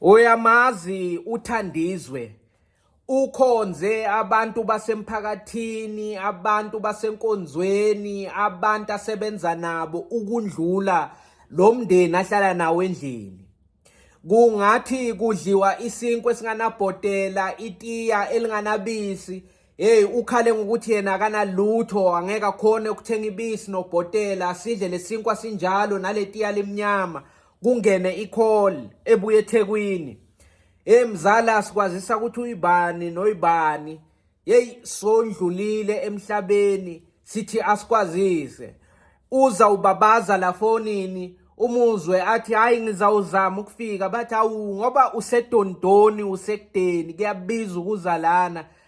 Uyamazi uThandizwe ukhonze abantu basemphakathini, abantu basenkonzweni, abantu asebenza nabo ukundlula lo mndeni ahlala nawo endlini. Kungathi kudliwa isinkwe singanabhotela, itiya elinganabisi. Hey ukhale ngokuthi yena akanalutho angeke akhone ukuthenga ibisi nobhotela sidle lesinkwa sinjalo naletiya limnyama. kungene i-call ebuye eThekwini hey mzali asikwazisa ukuthi uyibani noyibani hey sondlulile emhlabeni sithi asikwazise uza ubabaza la fonini umuzwe athi hayi ngizawuzama ukufika bathi awu ngoba usedondoni usekudeni kuyabiza ukuza lana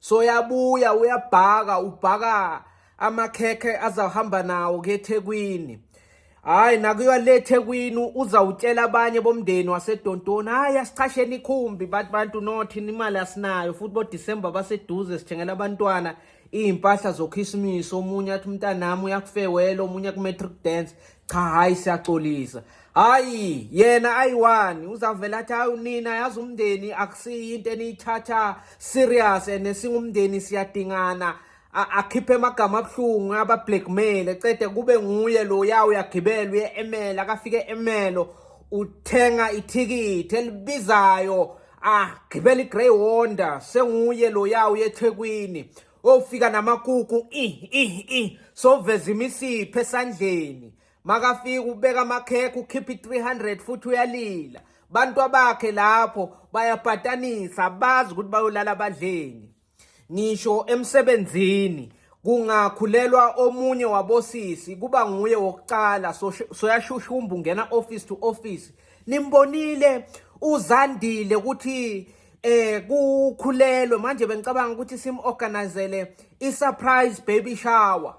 so yabuya uyabhaka ubhaka amakhekhe azahamba nawo keThekwini hayi nakuyiwa le Thekwini uzawutshela abanye bomndeni waseDontoni hayi asichasheni ikhumbi bathi bantu nothi imali asinayo futhi boDisemba baseduze sithengela abantwana iy'mpahla zokhisimusi omunye athi umntanami uyakufewela omunye ku-matric dance cha hayi siyaxolisa hayi yena ayiwani uzavela athi hayi nina yazi umndeni akusiyi into eniyithatha serious and singumndeni siyadingana akhiphe amagama abuhlungu abablackmail ecede kube nguye lo ya uyagibela uye emela akafike emelo uthenga ithikithi elibizayo agibela igrey wonder senguye lo ya uye ethekwini ofika namakuku ih ih ih soveza imisipho esandleni makafika ubeka amakhekhe ukhipha i-300 futhi uyalila bantu abakhe lapho bayabhatanisa bazi ukuthi bayolala abadleni ngisho emsebenzini kungakhulelwa omunye wabosisi kuba nguye wokuqala soyashushumba ungena office to office nimbonile uzandile ukuthi eh kukhulelwe manje bengicabanga ukuthi simorganizele i-surprise baby shower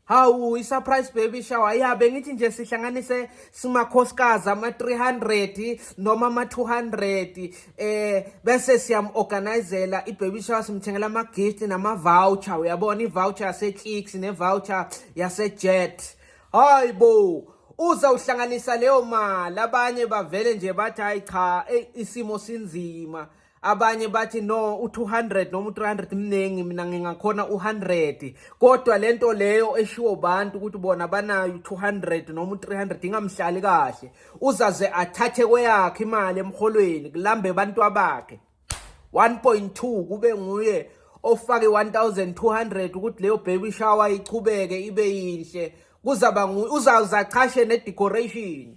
hawu i-surprise baby shower ya bengithi nje sihlanganise simakhosikazi ama-300 noma ama-200 eh bese siyam-organizela i-baby shower simthengela ama-gift nama-voucher uyabona i-voucher yase-clicks ne-voucher yase-jet hayi bo uzawuhlanganisa leyo mali abanye bavele nje bathi hayi cha eyi isimo sinzima abanye bathi no u200 noma u300 mningi mina ngingakhona u100 kodwa lento leyo eshiwo bantu ukuthi bona banayo u200 noma u300 ingamhlali kahle uzaze athathe kweyakhe imali emholweni kulambe abantu abakhe 1.2 kube nguye ofake 1200 ukuthi leyo baby shower ichubeke ibe yinhle kuzaba uzawuza chashe ne decoration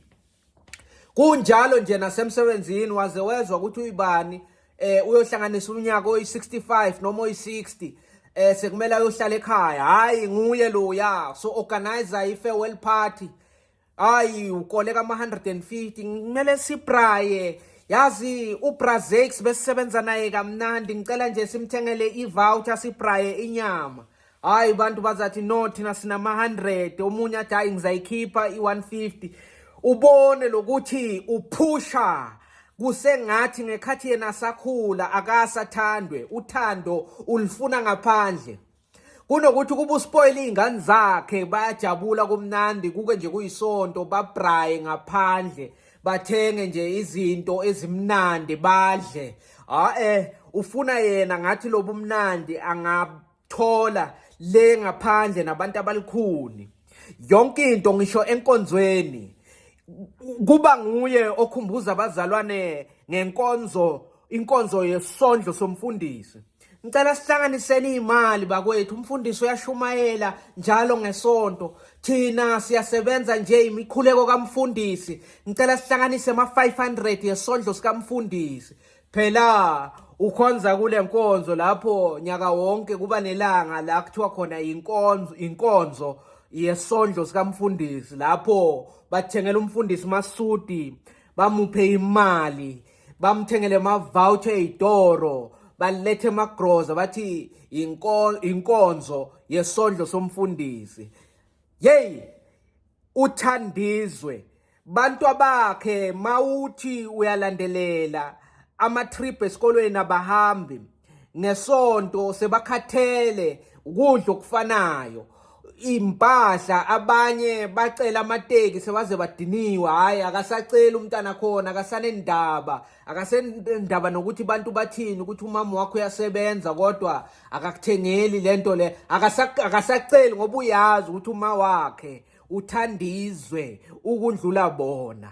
kunjalo nje nasemsebenzini waze wezwa ukuthi uyibani eh uyohlanganisa unyaka oyi65 noma oyi60 eh sekumele ayohlala ekhaya hayi nguye loya so organizer i farewell party hayi ukoleka ama-150 kumele sibraye yazi ubrazex besisebenza naye kamnandi ngicela nje simthengele ivoucher sibraye inyama hayi bantu bazathi no thina sinama-100 omunye athi hayi ngizayikhipha i-150 ubone lokuthi uphusha kusengathi ngekhathi yena sakhula akasathandwe uthando ulifuna ngaphandle kunokuthi ukuba uspoyile iy'ngane zakhe bayajabula kumnandi kuke nje kuyisonto babraye ngaphandle bathenge nje izinto ezimnandi badle a-e ufuna yena ngathi lobu mnandi angathola le ngaphandle nabantu abalikhuni yonke into ngisho enkonzweni kuba nguye okhumbuza abazalwane ngenkonzo inkonzo yesondlo somfundisi Ngicela sihlanganiseni izimali bakwethu umfundisi uyashumayela njalo ngesonto thina siyasebenza nje imikhuleko kamfundisi ngicela sihlanganise ama 500 yesondlo sikamfundisi phela ukhonza kule nkonzo lapho nyaka wonke kuba nelanga la kuthiwa khona inkonzo inkonzo yesondlo sikamfundisi lapho bathengela umfundisi masudi bamuphe imali bamthengele mavoucher eyitoro balethe magroza bathi inkonzo yesondlo somfundisi hey uthandizwe bantu abakhe mawuthi uyalandelela ama trip esikolweni abahambi ngesonto sebakhathele ukudla okufanayo impahla abanye bacela amateki sebaze badiniwe hayi akasaceli umntana khona akasanendaba akasendaba nokuthi abantu bathini ukuthi umama wakho uyasebenza kodwa akakuthengeli lento le akasaceli ngoba uyazi ukuthi uma wakhe uthandizwe ukundlula bona